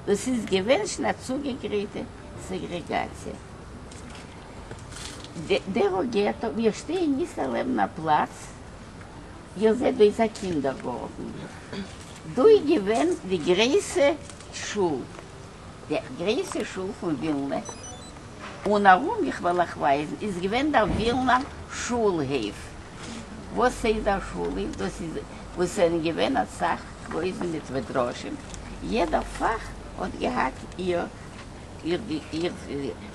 דאס איז געווענשן א צוגעגרייטע סעגרעגאציע. דערא געטא, מיר שטייען איצטער לעבן א פלאץ, איר זעט דא איז א קינדערגארטן, דא איז געווען די גרעיסע שול, די גרעיסע שול פון ווילנע, און ארום, איך וועל אייך ווייזן, איז געווען דער ווילנער שולהייף. וואס הייסט דער שולהייף? דאס איז וואו ס'זענען געווען אסאך קרויזן מיט מדרשים, יעדע פאך האט געהאט איר איר, ס'איז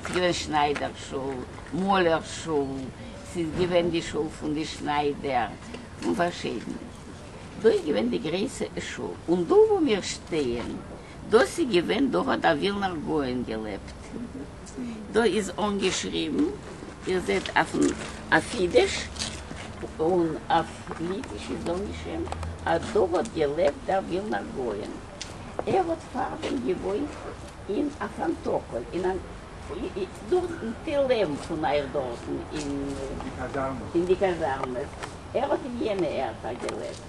געווען שניידער שול, מאלער שול, ס'איז געווען די שול פון די שניידער, און פארשידענע, דא איז געווען די גרעסע שול, און דא וואו מיר שטייען. דאס איז געווען דא האט דער ווילנער גאון געלעבט, דא איז אנגעשריבן, איר זעט אויפן אויף אידיש און אויף ליטיש איז אנגעשריבן אז דא האט געלעבט דער ווילנער גאון, ער האט פארדעם געוואוינט אין א פאנטאקעל אין א דארטן ט ל פון אייך דארטן אין די קאזארמעס, ער האט אין יענע ערטער געלעבט.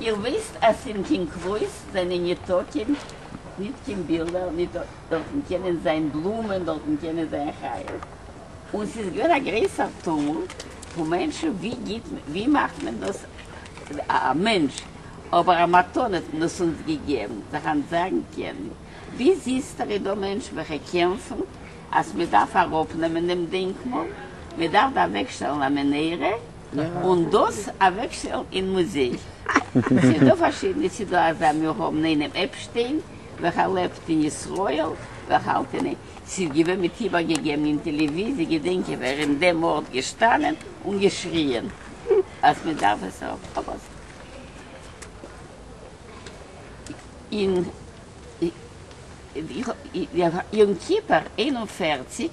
איר וויסט אז אין קין קרויס זענען ניטא קיין ניט קיין בילדער ניט דארטן קענען זיין בלומען דארטן קענען זיין חיות און ס'איז געווען א גרעסער טומל פון מענטשן ווי גיט ווי מאכט מען דאס א מענטש אבער א מתנה האט מען עס אונז געגעבן זיך אנטזאגן קענען ווי זיס דער אידא מענטש וועלכע קעמפן אז מ'דארף אראפנעמען דעם דענקמאל מ'דארף דא אוועקשטעלן א מנהרה. און דאס אוועקשטעלן אין מוזיי. ס'איז דא פארשידענע ס'דא אזא מיר האבן איינעם עפשטיין וועלכער לעבט אין ישראל וועלכע האלט אין איין ס'איז געווען מיט איבערגעגעבן אין טעלעוויזיע געדענק איך ווער אין דעם ארט געשטאנען און געשריען אז מ'דארף עס אבער אין יום כיפור איין און פֿערציק.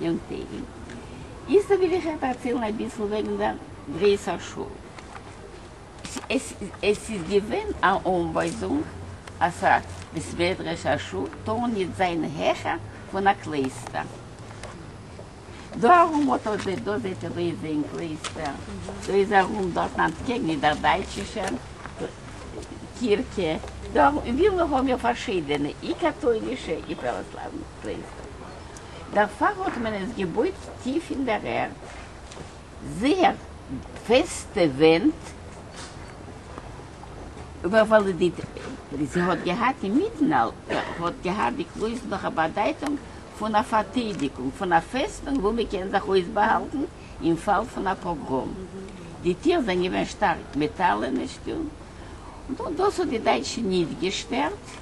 יום טעגים. איצטער וויל איך אייך דערציילן אביסל וועגן דער גרעיסער שול. עס איז געווען א אנווייזונג אז א בית מדרש, א שול, טאר ניט זיין העכער פון א קלייסטער. דא ארום האט אט דעי, דא זעט איר דא איז איין קלייסטער, דא איז ארום דארטן אנטקעגן איז דער דייטשישער קירכע, דא ארום אין ווילנא האבן מיר פארשיידענע אי-קאטוילישע אי-פראוואסלאוונע קלייסטער. דערפאר האט מען עס געבויט טיף אין דער ערד, זייער פעסטע ווענט, וואלודיט, זי האט געהאט אינמיטן אלע, האט געהאט די קלויז נאך א באדייטונג פון א פארטיידיגונג, פון א פעסטונג וואו מען קען זיך אויסבאהאלטן אין פאל פון א פאגראם. די טיר זענען געווען שטארק מעטאלענע, שטונג, און דאס האט די דייטשן ניט געשטערט.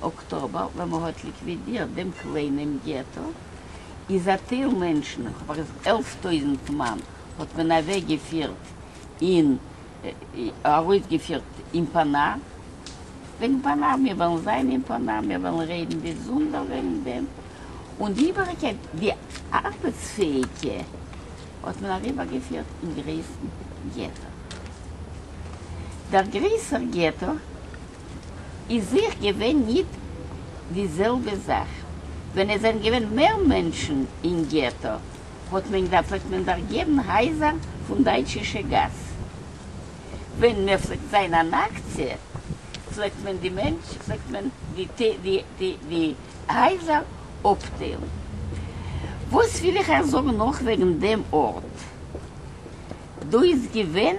אקטאבער ווען מען האט ליקווידירט דעם קליינעם געטא איז א טייל מענטשן, כ'האב ארז עלף טויזנט מאן, האט מען אוועק געפירט אין ארויס געפירט אין פאנא, וועגן פאנא, מיר וועלן זיין אין פאנא, מיר וועלן רעדן ביזונדער וועגן דעם, און די איבעריגקייט די ארבעטס פעאיגע האט מען אריבער געפירט אין גרעסן געטא, דער גרעסער געטא. איז זיך געווען ניט די זעלבע זאַך. ווען עס זענען געווען מער מענטשן אין געטאָ, האָט מען געזאַגט, האָט מען דערגעבן הייזער פֿון דײַטשישע גאַס. ווען מע פֿלעגט זײַן אַן אַקציע, פֿלעגט מען די מענטש, פֿלעגט מען די הייזער אָפּטיילן. וואָס וויל איך אײַך זאָגן נאָך וועגן דעם אָרט? דאָ איז געווען.